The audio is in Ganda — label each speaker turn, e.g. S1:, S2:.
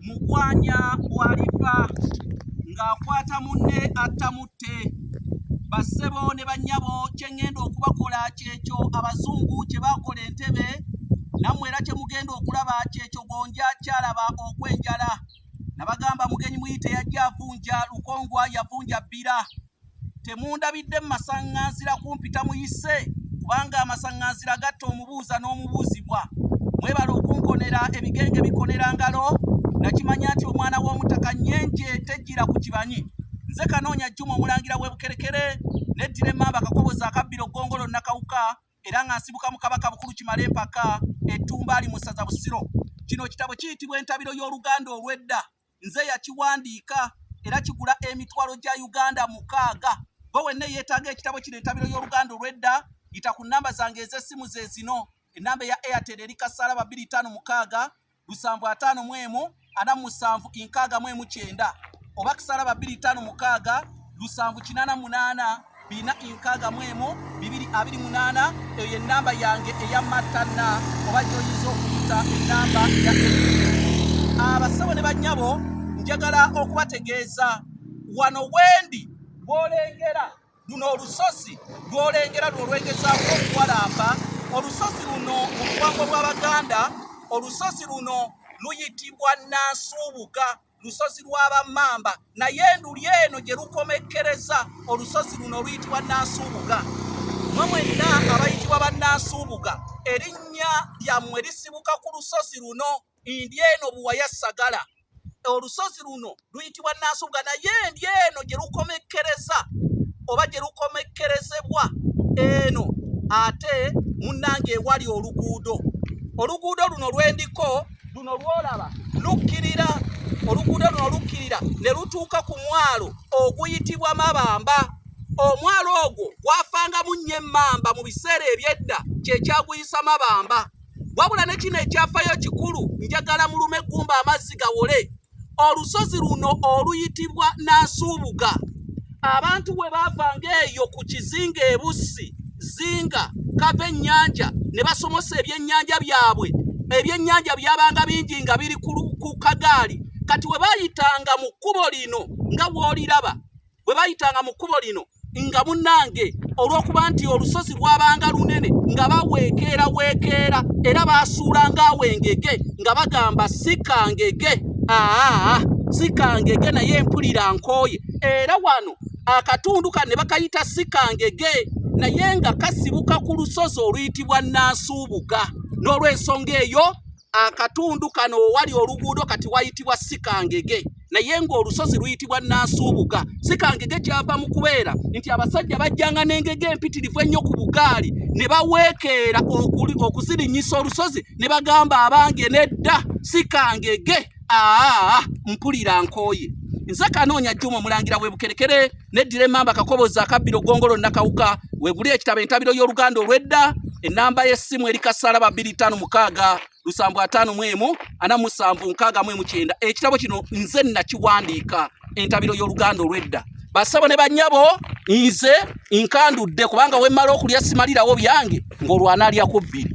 S1: Mugwanya bw'alifa ng'akwata munne attamutte bassebo ne bannyabo kye ŋŋenda okubakola kyekyo abazungu kye baakola entebe nammwe era kye mugenda okulaba kyekyo gonja kyalaba okwenjala nabagamba mugenyi muyite yajja avunja lukongwa yavunja bbira temundabidde mu masaŋŋanzira kumpita muyise kubanga amasaŋŋanzira gatta omubuuza n'omubuuzibwa mwebale okunkonera ebigenge bikonera ngalo nakimanya nti omwana w'omutaka nyenje tejjira ku kibanyi nze kanoonya jjuma omulangira w'ebukerekere neddira emmamba akakobozi akabbira oggongolo nakawuka era nga nsibuka mu kabaka bukulu kimala empaka ettumba ali mu ssaza busiro kino kitabo kiyitibwa entabiro y'oluganda olw'edda nze yakiwandiika era kigula emitwalo gya uganda mukaaga gwe wenna eyeetaaga ekitabo kino entabiro y'oluganda olw'edda yita ku nnamba zange ez'essimu ze zino ennamba eya airtel eri kasaala babiri ttaano mukaaga lusanvu ataano mu emu ana mu musanvu inkaaga mu emu kyenda oba kasaala babiri ttaano mukaaga lusanvu kinaana munaana bina nkaaga mu emu bibiri abiri munaana eyo ye nnamba yange eya matanna oba gyoyinza okuyita ennamba ya abasawo ne bannyabo njagala okubategeeza wano wendi bwolengera luno olusozi lwolengera lwolwegezaaku okuwalampa olusozi luno mu buwango bw'abaganda olusozi luno luyitibwa nansuubuka lusozi lwa bammamba naye enduli eno gye lukomekkereza olusozi luno oluyitibwa nansuubuga mwe mwenna abayitibwa bannansuubuga erinnya lyammwe lisibuka ku lusozi luno ndi eno buwaya sagala olusozi luno luyitibwa nansuubuga naye ndi eno gye lukomekkereza oba gye lukomekkerezebwa eno ate munnange ewali oluguudo oluguudo luno lwendiko luno lwolaba lukkirira oluguudo luno lukkirira ne lutuuka ku mwalo oguyitibwa mabamba omwalo ogwo gwafangamu nnyo emmamba mu biseera ebyedda kyekyaguyisa mabamba wabula ne kino ekyafayo kikulu njagala mulume gumba amazzi gawole olusozi luno oluyitibwa Nansuubuga abantu we baavanga eyo ku kizinga ebussi zinga kava ennyanja ne basomosa ebyennyanja byabwe ebyennyanja byabanga bingi nga biri ku kagaali kati we bayitanga mu kkubo lino nga wooliraba bwe bayitanga mu kkubo lino nga munnange olw'okuba nti olusozi lwabanga lunene nga baweekeera weekeera era baasuulanga awo engege nga bagamba sikangege aa sikangege naye mpulira nkooye era wano akatundu kane bakayita sikangege naye nga kasibuka ku lusozi oluyitibwa nansuubuga n'olw'ensonga eyo akatundu kano owali oluguudo kati wayitibwa sikangege naye ng'olusozi luyitibwa nansuubuga sikangege kyava mu kubeera nti abasajja bajjanga n'engege empitirivu ennyo ku bugaali ne baweekeera okuzirinyisa olusozi ne bagamba abange nedda sikangege aa mpulira nkooye nze kanoonya juma omulangira webukerekere neddira emamba kakoboza akabbiro gongolo nakawuka weguli ekitabo entabiro y'oluganda olwedda enamba y'essimu eri kasaala babiri tano mukaaga lusanvu ataano mu emu ana musanvu nkaaga mu emu kyenda ekitabo kino nze nakiwandiika entabiro y'oluganda olwedda basabo ne banyabo nze nkandudde kubanga wemmala okulya simalirawo byange ng'olwanaalya ku bbiri